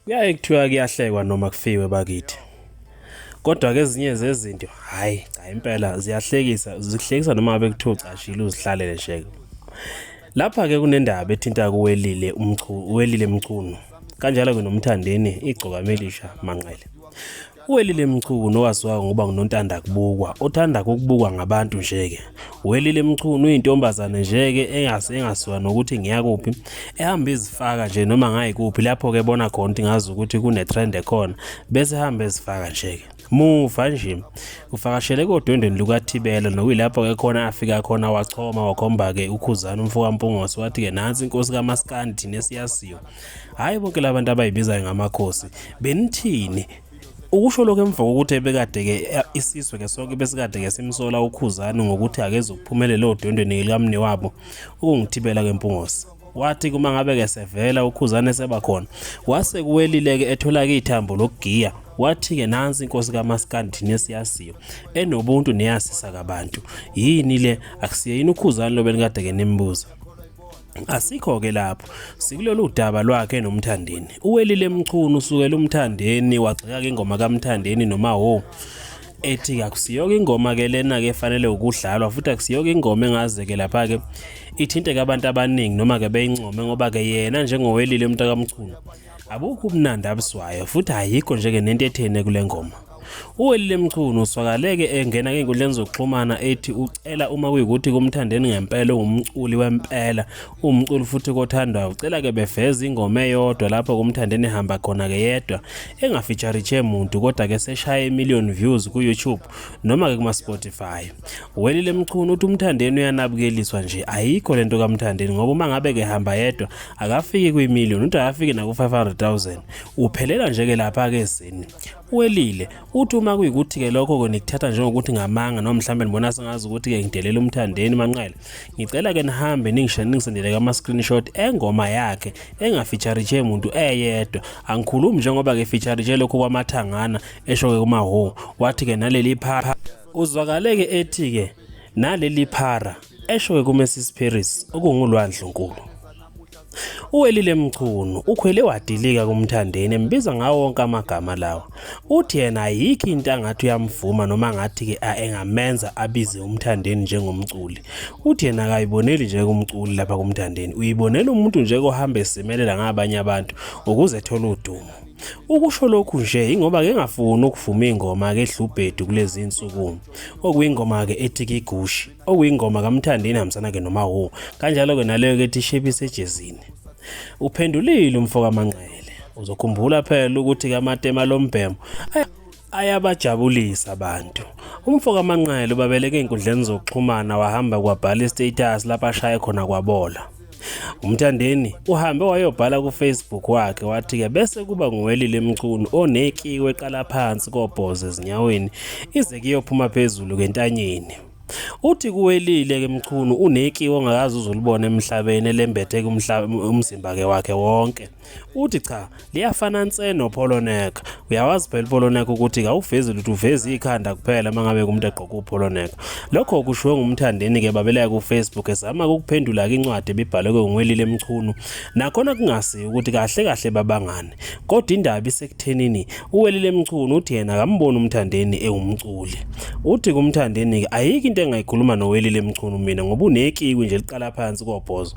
kuyaye kuthiwa kuyahlekwa noma kufiwe bakithi kodwa ke ezinye zezinto hayi cha impela ziyahlekisa zikuhlekisa noma abe kuthiwa ucashile uzihlalele sheke lapha ke kunendaba ethinta kuwelile umchu welile mchunu kanjalo ke nomthandeni igcokamelisha manqele Uwelile Mchunu owaziwa ngoba ngunontanda kubukwa othanda ukubukwa ngabantu nje-ke Welile Mchunu uyintombazane nje-ke engasiwa nokuthi ngiyakuphi ehamba izifaka nje noma ngayikuphi lapho-ke bona khona ukuthi ngazi ukuthi kune-trend ekhona bese ehamba ezifaka nje-ke muva nje ufakashele kodwendweni lukathibela nokuyilapho-ke khona afika khona wachoma wakhomba-ke ukhuzana umfokampungose wathi-ke nansi inkosi kamaskandi nesiyasiyo hhayi bonke la bantu abayibizayo ngamakhosi benithini ukusho lokho emva kokuthi ebekade-ke eh, isizwe-ke sonke besikade-ke simsola ukhuzani ngokuthi akeze ukuphumelela odwendweni likamni wabo ukungithibela kwempungose wathi kuma ngabe-ke sevela ukhuzane seba khona wase kuwelile-ke ethola-ke ithambo lokugiya wathi-ke nansi inkosi kamaskandi nesiyaziyo enobuntu neyasisa kabantu yini le akusiye yini ukhuzane lobe nikade-ke nimbuza Asikho-ke lapho sikulolu daba lwakhe nomthandeni uwelile mchunu usukela umthandeni wagxeka-ke ingoma kamthandeni noma ho ethi akusiyoke ingoma ke lena ke fanele ukudlalwa futhi akusiyoke ingoma engaze ke lapha ke ithinte ke abantu abaningi noma ke beyincome ngoba ke yena njengowelile umntakamchunu Abukho ubunandi abuswayo futhi ayikho nje ke nento ethene kule ngoma. Uwelile Mchunu uswakaleke engena kwenkundleni zokuxhumana ethi ucela uma kuyikuthi kumthandeni ngempela ungumculi wempela umculi futhi kothandwa ucela ke beveza ingoma eyodwa lapho kumthandeni hamba khona ke yedwa engafeature che muntu kodwa ke seshaya imillion views ku YouTube noma ke kuma Spotify Welile Mchunu uthi uMthandeni uyanabukeliswa nje ayikho lento kaMthandeni ngoba uma ngabe ke hamba yedwa akafiki kwi million uthi akafiki naku 500,000 uphelela nje ke lapha ke sini welile uthi uma kuyikuthi ke lokho ke nikuthatha njengokuthi ngamanga noma mhlambe nibona sengazi ukuthi ke ngidelela umthandeni manqele ngicela ke nihambe ningisho ningisendele ama screenshot engoma yakhe engafeature nje umuntu eyedwa angikhulumi njengoba ke feature nje lokho kwamathangana esho ke kuma ho wathi ke naleli phapha Uzwakaleke ethi ke naleli phara esho kuMessis Paris okungulwandle nkulu. Uwelile Mchunu ukhwele wadilika kumthandeni embiza ngawo wonke amagama lawa. Uthi yena ayikho into angathi uyamvuma noma ngathi ke engamenza abize umthandeni njengomculi. Uthi yena akayiboneli nje kumculi lapha kumthandeni. Uyibonela umuntu nje kohamba esimelela ngabanye abantu ukuze ethola udumo. Ukusho lokhu nje ingoba ke ngafuni ukuvuma ingoma ke Dlubhedu kulezi insuku okuyingoma ke ethi kigushi okuyingoma kaMthandeni hamsana ke noma wo kanjalo ke naleyo ke ethi shebise ejezini uphendulile umfoka Manqele uzokhumbula phela ukuthi kaMatema lombhemo ayabajabulisa abantu umfo kamanqele ubabeleke ey'nkundleni zokuxhumana wahamba kwabhala istatus lapho ashaye khona kwabola umthandeni uhambe wayobhala kufacebook wakhe wathi-ke bese kuba nguwelile emchunu onekiwe eqala phansi kobhozo ezinyaweni ize kuyophuma phezulu kentanyeni uthi kuwelile ke mchunu unekiwe ongakazi uzulibona emhlabeni elembethe umzimba ke wakhe wonke uthi cha liyafana nse nopholonek uyawazi phela upholonek ukuthi kawuvezi lutho uveza ikhanda kuphela mangabe kumuntu egqoka upholonek lokho kushiwo ngumthandeni ke babelaya ku Facebook ezama ukuphendula incwadi ebibhalwe ngwelile emchunu nakhona kungasi ukuthi kahle kahle babangane kodwa indaba isekuthenini uwelile emchunu uthi yena akamboni umthandeni ewumculi uthi kumthandeni ayiki into engayikhuluma nowelile emchunu mina ngoba unekiwi nje liqala phansi kobhozo